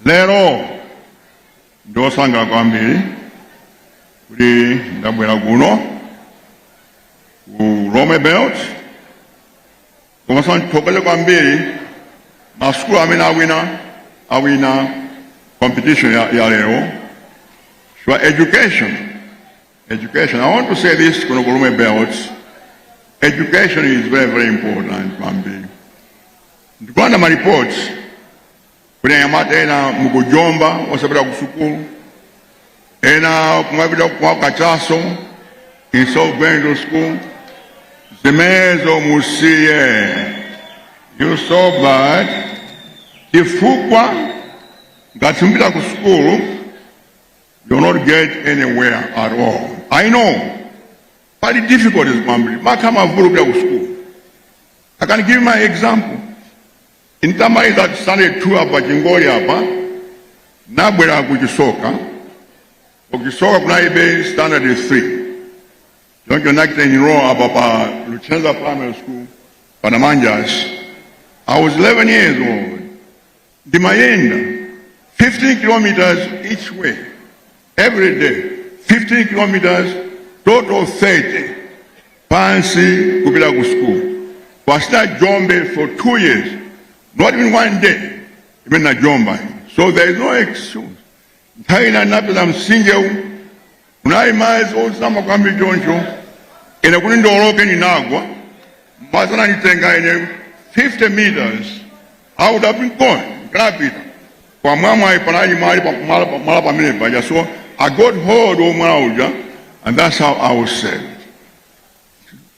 lero ndikusangalala kwambiri kuti ndabwera kuno ku Lomwe Belt komanso ndithokoze kwambiri masukulu amene awinaawina competition ya, ya lero so education Education. I want to say this kuno ku Lomwe Belt. Education is very, very important, kwambiri. Ndikuona ma reports kuti anyamata ena mukujomba osapita ku sukulu ena kumapita ku kachaso instead of going to school zimenezo musiye it's so bad chifukwa ngati simupita ku sukulu You will not get anywhere at all. I know. Pali difficulties kwambiri. Makamaka mvula kupita ku school. I can give my example. Ine nditamaliza standard two apa pa Chingoli apa nabwera ku Chisoka. Ku Chisoka kunaibe standard 3. Choncho ndinachita enroll apa pa Luchenza Primary School pa Namanjas. I was 11 years old. Ndimayenda 15 km each way every day, 15 km total 30 pansi kupita ku school pasita jombe for two years not even one day imene najomba so there is no excuse Nthawi ina ndinapeza mtsinjewu unali madzi ozama kwambiri choncho, ine kuti ndiwoloke ndinagwa, madzi ananditenga ine 50 meters, I would have been gone, ndinapita pamwamwayi panali mwala pa- mwala pa- mwala pamene paja, so I got hold of mwala uja and that's how I was saved.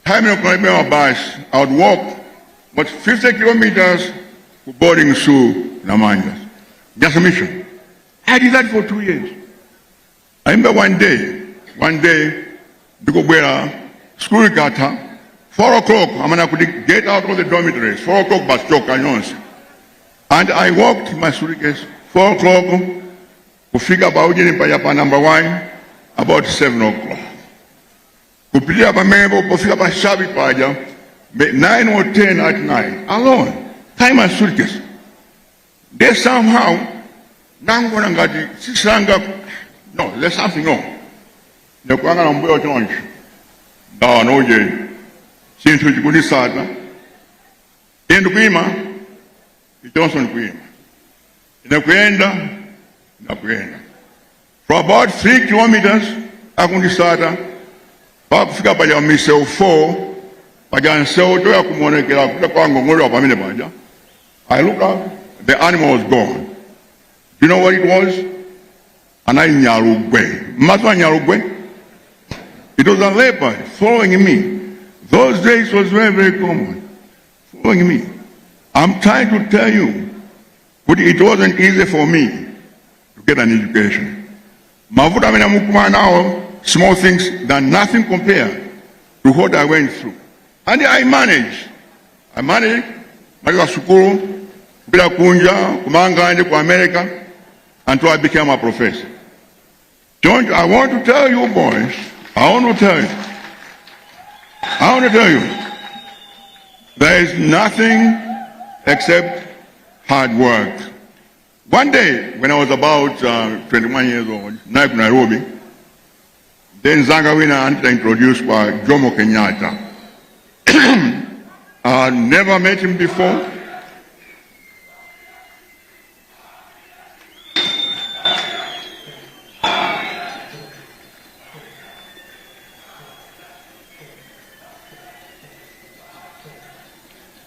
nthawi imene kunalibe mabasi i would walk about 50 kilometers ku boarding school namanja jesuit mission i did that for two years i remember one day one day ndikubwera school ikatha 4 o'clock amene akuti get out of the dormitories 4 o'clock basi chokani nonse and i walked my suitcase 4 o'clock kufika pa ujeni paja pa number 1 about 7 o'clock Kupitirira pamenepo pofika pa shabi paja 9 or 10 at night alone ndi my suitcase then somehow ndinangoona ngati tsitsi langa no there's something wrong ndikuyang'ana mbuyo choncho ndaona ujeni chinthu chikundisata ine ndikuyima ichonso ndikuyima ine kuyenda ndakuyenda for about 3 kilometers akundisata pakufika paja pa misewu 4 paja msewu toya kumuonekera kuta kwa ngong'olewa pamene paja i look up the animal was gone you know what it was anali nyalugwe mmaso a nyalugwe it was a leopard following me those days was very very common following me i'm trying to tell you kuti it wasn't easy for me to get an education mavuto amene mukumana nawo small things than nothing compared to what i went through and i manage i manage maliwa sukulu kupita kunja kumanga ndi ku america until i became a professor don't i want to tell you boys i want to tell you i want to tell you there is nothing except hard work One day when I was about uh, 21 years old, naye ku Nairobi, then zanga wina anita introduced kwa Jomo Kenyatta. I never met him before.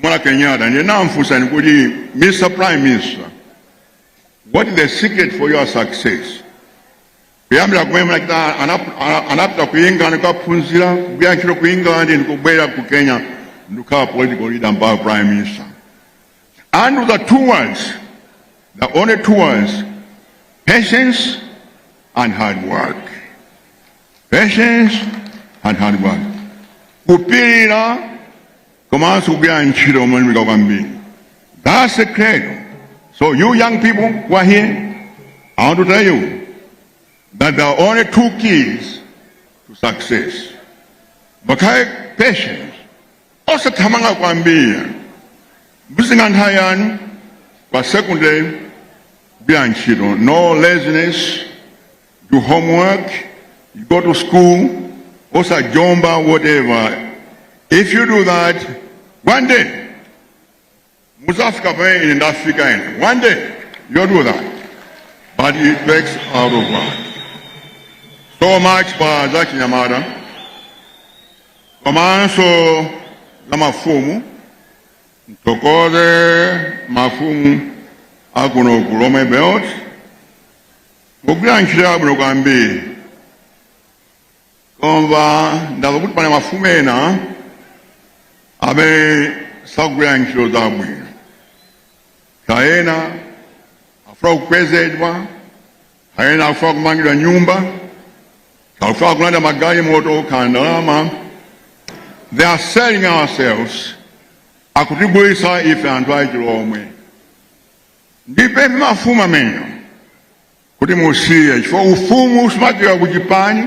Kuona Kenyatta ndiye ndinamufunsa kuti Mr Prime Minister what is the secret for your success kuyambira kumene munachita anap- ana- anapita ku England kukaphunzira kugwira ntchito ku England ndikubwera ku Kenya ndikukhala political leader mpaka prime minister and the two words the only two words patience and hard work patience and hard work kupirira komanso kugwira ntchito molimbika kwambiri that's the credo so you young people who are here i want to tell you that there are only two keys to success pakhale patience osathamanga kwambiri muzitenga nthawi yanu koma secondly kugwira ntchito no laziness do homework, you go to school, also jumba, whatever. If you do that, one day, Musafika Bay in Africa, and one day, you'll do that. But it takes out of one. So much for Zaki Yamada. Komanso za mafumu mtokoze mafumu akuno ku Lomwe Belt Mugwira ntchito yabwino kwambiri. Koma ndamva kuti pali mafumu ena amene sakugwira ntchito zabwino. Kapena afuna kukwezedwa, kapena afuna kumangidwa nyumba, afuna kulandira magalimoto kapena ndalama. They are selling ourselves akutigulitsa ife anthu achilomwe Ndipemphe mafumu amenewa kuti musiye chifukwa ufumu sumachokera ku chipani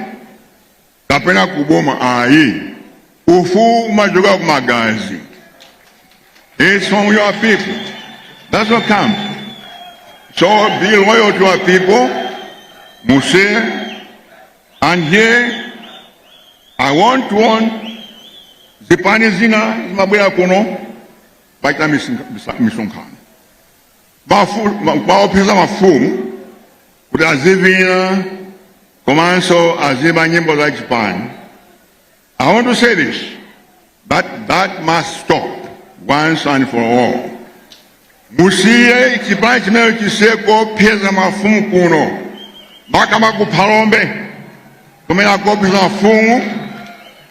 kapena ku boma ayi. Ufumu umachokera ku magazi. It's from your people. That's what comes. So be loyal to our people, musiye. And here I want to warn zipani zina zimabwera kuno kumachita misonkhano kumaopseza mafumu kuti azivina komanso azimba nyimbo za chipani i want to say this that must stop once and for all musiye chipani chimenecho chisiye kuopseza mafumu kuno makamaka ku phalombe kumene akuopseza mafumu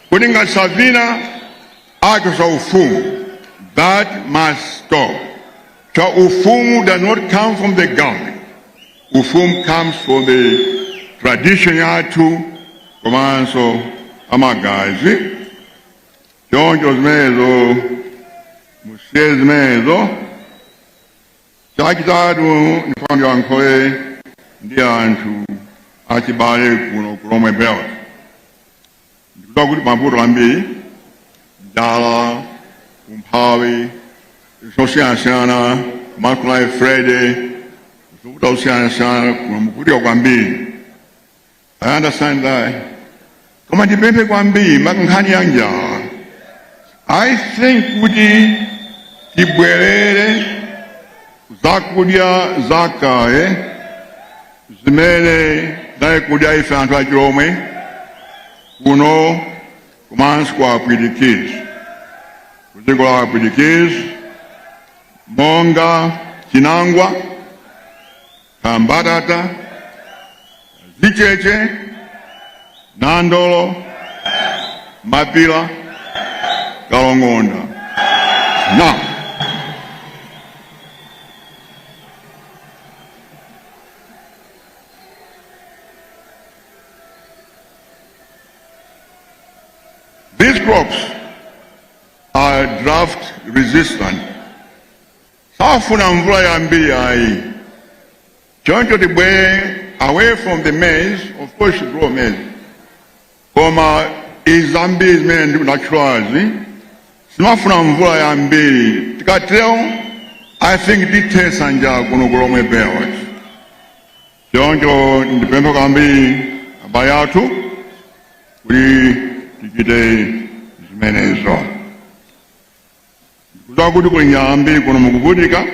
kuti ngati savina Awachotsa ufumu that must stop. Chifukwa ufumu does not come from the government. Ufumu comes from the tradition yathu komanso amagazi. Choncho zimenezo musiye zimenezo chachitatu ndifuna ndiyankhule ndi anthu achibale kuno ku Lomwe Belt. ndikudziwa kuti pali mavuto ambiri njala umphawi zosiyanasiyana maka after freddy zovuta zosiyanasiyana kuno mukuvutika kwambiri i understand that koma ndipemphe kwambiri maka nkhani ya njala i think kuti tibwerere zakudya zakale zimene tinali kudya ife anthu achilomwe kuno komanso kwa apwitikizi ku dziko la apwitikizi monga chinangwa kambatata zicheche nandolo mapila kalongonda na These crops are drought resistant. Safuna mvula yambiri ayi. Choncho tibwere away from the maize, of course grow maize. koma izi zambiri zimene ndinatchulazi sizimafuna mvula yambiri tikatero i think tithesa njala kuno kulomwe belt choncho ndipempha kwambiri abale athu kuti tichite zimenezo kudziwa kuti kuli njala yambiri kuno mukuvutika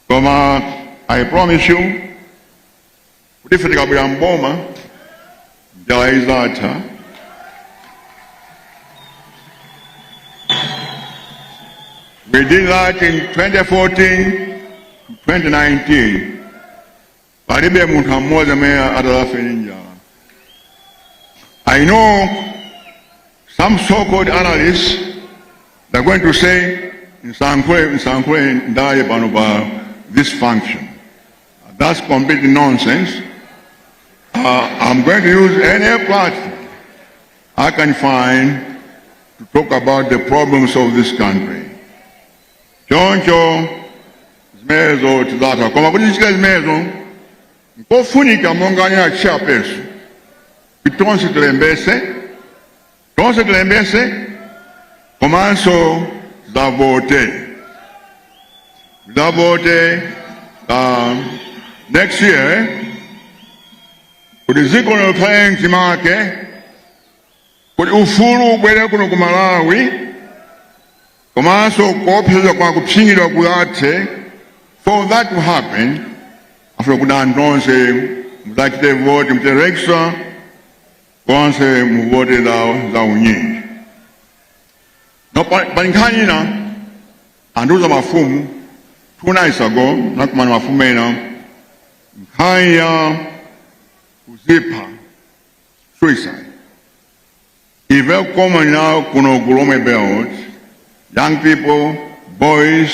koma i promise you kuti ife tikabwera mboma njala izatha We did that in 2014, 2019. Palibe munthu amodzi amene atalafe ndi njala. I know some so-called analysts they're going to say nsankhule nsankhule ndaye pano pa this function. That's complete nonsense. Uh, I'm going to use any platform I can find to talk about the problems of this country. Choncho zimenezo tizatha koma kuti tichite zimenezo nkofunika monga anena chairperson kuti tonse tilembetse tonse tilembese komanso zavote zavote um, next year kuti dziko likhale mchimake kuti ufulu ubwere kuno ku malawi komanso kuopseza kwa kupsinjidwa kuthe for that to happen afuna kuti anthu onse mudzachite voti mterekisa konse muvote za unyinji now pali nkhani ina andiuza mafumu two nights ago nakumana mafumu ena nkhani ya kuzipha suicide is very common now kuno ku Lomwe belt young people boys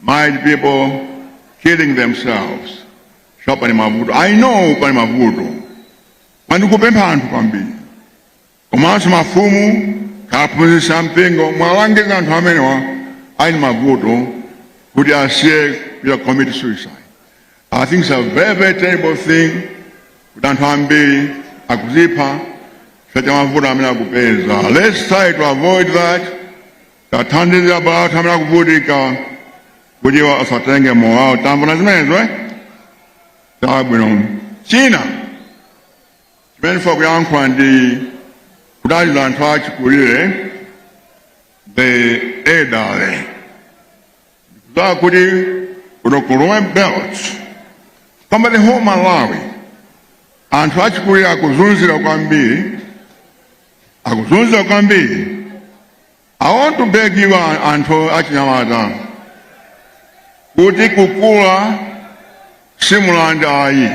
married people killing themselves sha pali mavuto i know pali mavuto Ndikupempha anthu kwambiri komanso mafumu aphunzitsi a mpingo muwalangize anthu amenewa ali ndi mavuto kuti asiye kuchita commit suicide. I think it's a very very terrible thing kuti anthu ambiri akuzipha chifukwa cha mavuto amene akupeza. Let's try to avoid that. Tiwathandize abale athu amene akuvutika kuti asatenge moyo wawo. Tamvana zimenezo eh? chabwino china chimene ndifuna kuyankhula ndi kuthandiza anthu achikulire the elderly ndikudziwa kuti kuno ku Lomwe belt kapena the whole malawi anthu achikulire akuzunzidwa kwambiri akuzunzidwa kwambiri I want to beg you anthu achinyamata kuti kukula si mulandu ayi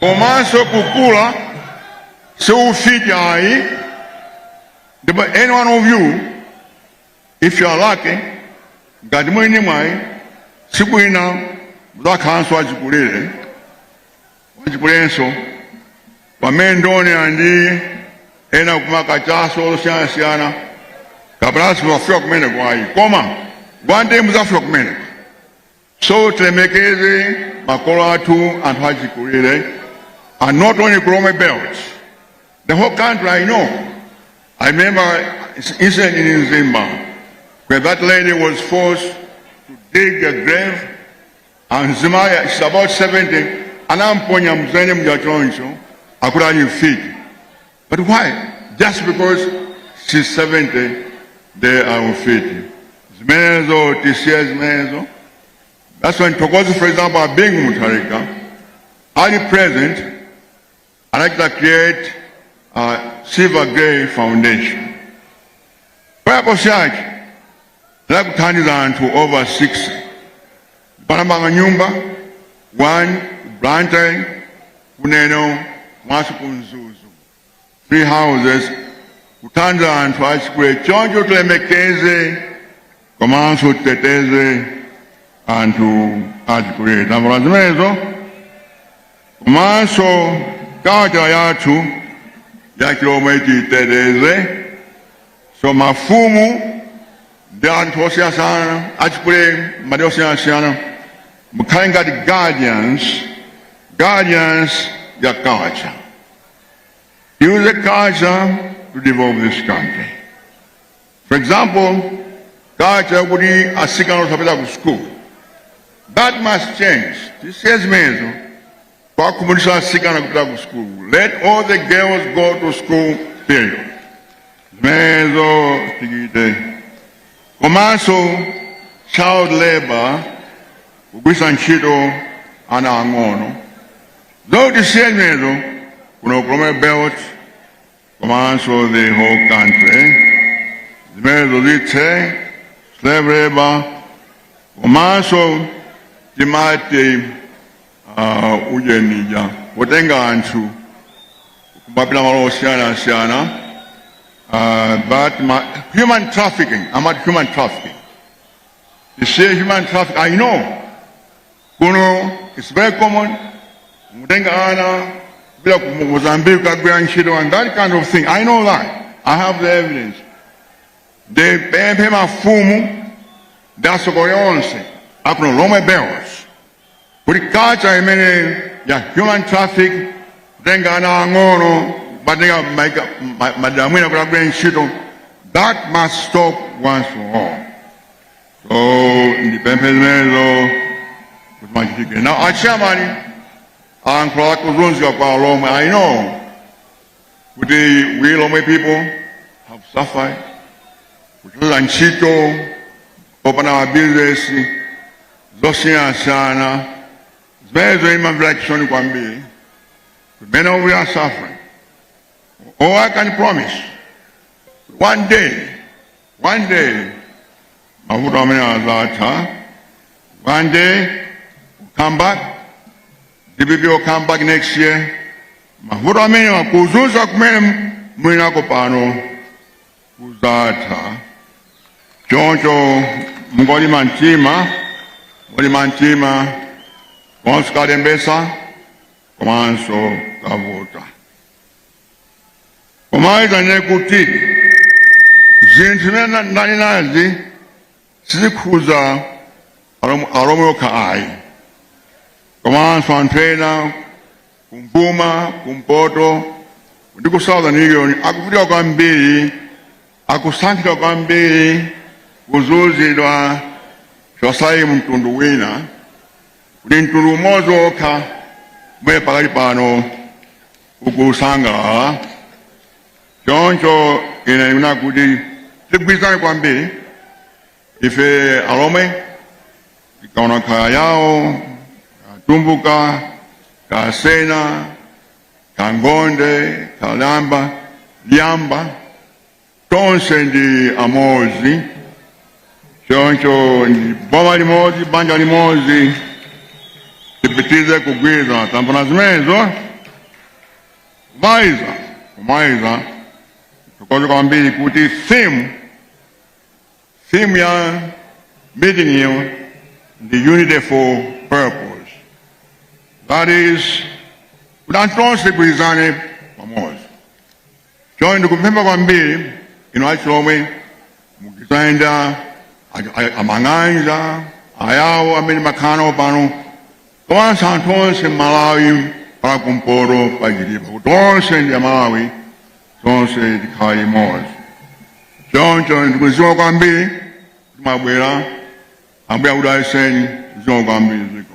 komanso kukula si ufiti ayi ndipo any one of you if you are lucky ngati muli ndi mwayi tsiku lina mudzakhalanso achikulire Achikulirenso, pamene ndaona anthu ena akumwa kachaso osiyanasiyana kapena simudzafika kumeneko ayi koma one day mudzafika kumeneko so tilemekeze makolo athu anthu achikulire and not only ku Lomwe belt the whole country I know I remember incident in Mzimba where that lady was forced to dig a grave Mzimayi she's about 70 anamponya mdzenje muja choncho akuti ali mfiti but why just because she's 70 ndiye mfiti zimenezo tisiye zimenezo that's why ndithokoze for example a Bingu Mutharika ali president I'd like to create a Silver Grey Foundation. Purpose yake la kuthandiza anthu over 60 panamanga nyumba 1 Blantyre ku Lilongwe komanso ku Mzuzu three houses kuthandiza anthu achikulire choncho tilemekeze komanso titeteze anthu achikulire tambula zimenezo Komanso culture yathu ya chilomwe tiyiteteze, so mafumu ndi anthu osiyanasiyana achikulire malo osiyanasiyana mukhale ngati guardians guardians ya culture use culture to develop this country For example, culture yakuti asikana osapita ku school. That must change. Tisiye zimenezo. Kuwakhumudwitsa asikana kupita ku school. Let all the girls go to school period. Zimenezo tichite. Komanso child labor kugwiritsa ntchito ana ang'ono. Izo tisiye zimenezo kuno ku Lomwe belt komanso the whole country zimenezo zithe slave labor komanso timati uh, ujeni uja wotenga anthu kumapita malo osiyanasiyana uh, but ma, human trafficking amati human trafficking tisiye human trafficking i know Kuno it's very common kutenga ana kupita ku Mozambique kukagwira ntchito and that kind of thing. I know that. I have the evidence. Ndipemphe mafumu ndi atsogoleri onse akuno ku Lomwe belt kuti culture imene ya human traffic kutenga ana ang'ono kuwatenga maika- ma- madera ena kuti agwire ntchito that must stop once for all. So ndipemphe zimenezo kuti zichitike. Now a chairman ayankhula za kuzunzika kwa Alomwe. I know kuti we Lomwe people have suffered kuchotsa ntchito popanda mabizinesi zosiyanasiyana zimenezo ndimamvera chisoni kwambiri mmene we are suffering. All I can promise one day One day mavuto amene azatha. One day we'll come back. DPP will come back next year. Mavuto amene akuzunza kumene mulinako pano kuzatha. Choncho mungolimba mtima, mungolimba mtima komanso kalembetsa komanso kavota. koma ndinene kuti zinthu zimene na- ndanenazi sizikhuza alom- alomwe okha ayi komanso anthu ena kummwera kumpoto ndi ku southern region akuvutika kwambiri akusankhidwa kwambiri kuzunzidwa chosayi mtundu wina kuti mtundu umodzi wokha umene pakali pano ukusangalala choncho ine ndikuna kuti tigwirizane kwambiri ife alomwe tikaona kaya ayawo kaya atumbuka kaya asena kaya angonde kaya alambya lambya tonse ndi amodzi choncho ndi boma limodzi banja limodzi tipitilize kugwirizana tapanga zimenezo kumaliza kumaliza tithokoze kwambiri kuti theme theme ya meeting iyo ndi unity for purpose that is kuti anthu tonse tigwirizane pamodzi choncho ndikupempha kwambiri inu achilomwe mukayenda amang'anja ayawo amene mumakhala nawo pano komanso anthu onse mmalawi pa kumpoto pa Chitipa kuti onse ndi amalawi tonse tikhale limodzi choncho zikomo kwambiri kuti mwabwera ambuye akudalitseni zikomo kwambiri ziko